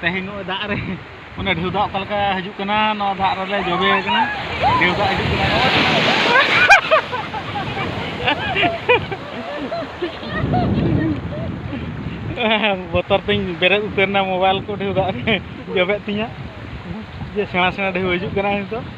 ᱛᱮᱦᱮᱧ ᱱᱚᱜᱼᱚᱭ ᱫᱟᱜ ᱨᱮ ᱚᱱᱟ ᱰᱷᱮᱣ ᱫᱟᱜ ᱚᱠᱟ ᱞᱮᱠᱟ ᱦᱤᱡᱩᱜ ᱠᱟᱱᱟ ᱱᱚᱣᱟ ᱫᱟᱜ ᱨᱮᱞᱮ ᱡᱚᱵᱮ ᱟᱠᱟᱱᱟ ᱰᱷᱮᱣ ᱫᱟᱜ ᱦᱤᱡᱩᱜ ᱠᱟᱱᱟ ᱵᱚᱛᱚᱨ ᱛᱤᱧ ᱵᱮᱨᱮᱫ ᱩᱛᱟᱹᱨ ᱮᱱᱟ ᱢᱳᱵᱟᱭᱤᱞ ᱠᱚ ᱰᱷᱮᱣ ᱫᱟᱜ ᱨᱮ ᱡᱚᱵᱮᱜ ᱛᱤᱧᱟ ᱡᱮ ᱥᱮᱬᱟ ᱥᱮᱬᱟ ᱰᱷᱮᱣ ᱦᱤᱡᱩᱜ ᱠᱟᱱᱟ ᱱᱤᱛᱚᱜ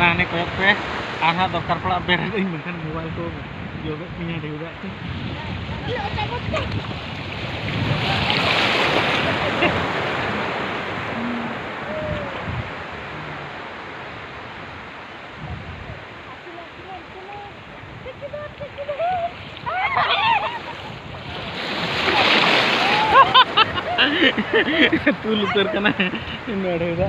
ᱦᱟᱱᱮ ᱠᱚᱭᱚᱜ ᱯᱮ ᱟᱨ ᱦᱟᱸᱜ ᱫᱚᱨᱠᱟᱨ ᱯᱟᱲᱟᱜ ᱵᱮᱨᱮᱫᱟᱹᱧ ᱢᱮᱱᱠᱷᱟᱱ ᱢᱳᱵᱟᱭᱤᱞ ᱠᱚ ᱡᱚᱵᱮᱫ ᱛᱤᱧᱟ ᱰᱷᱮᱣᱨᱟᱜ ᱛᱤᱧ ᱛᱩᱞ ᱩᱛᱟᱹᱨ ᱠᱟᱱᱟ ᱱᱚᱰᱮ ᱫᱚ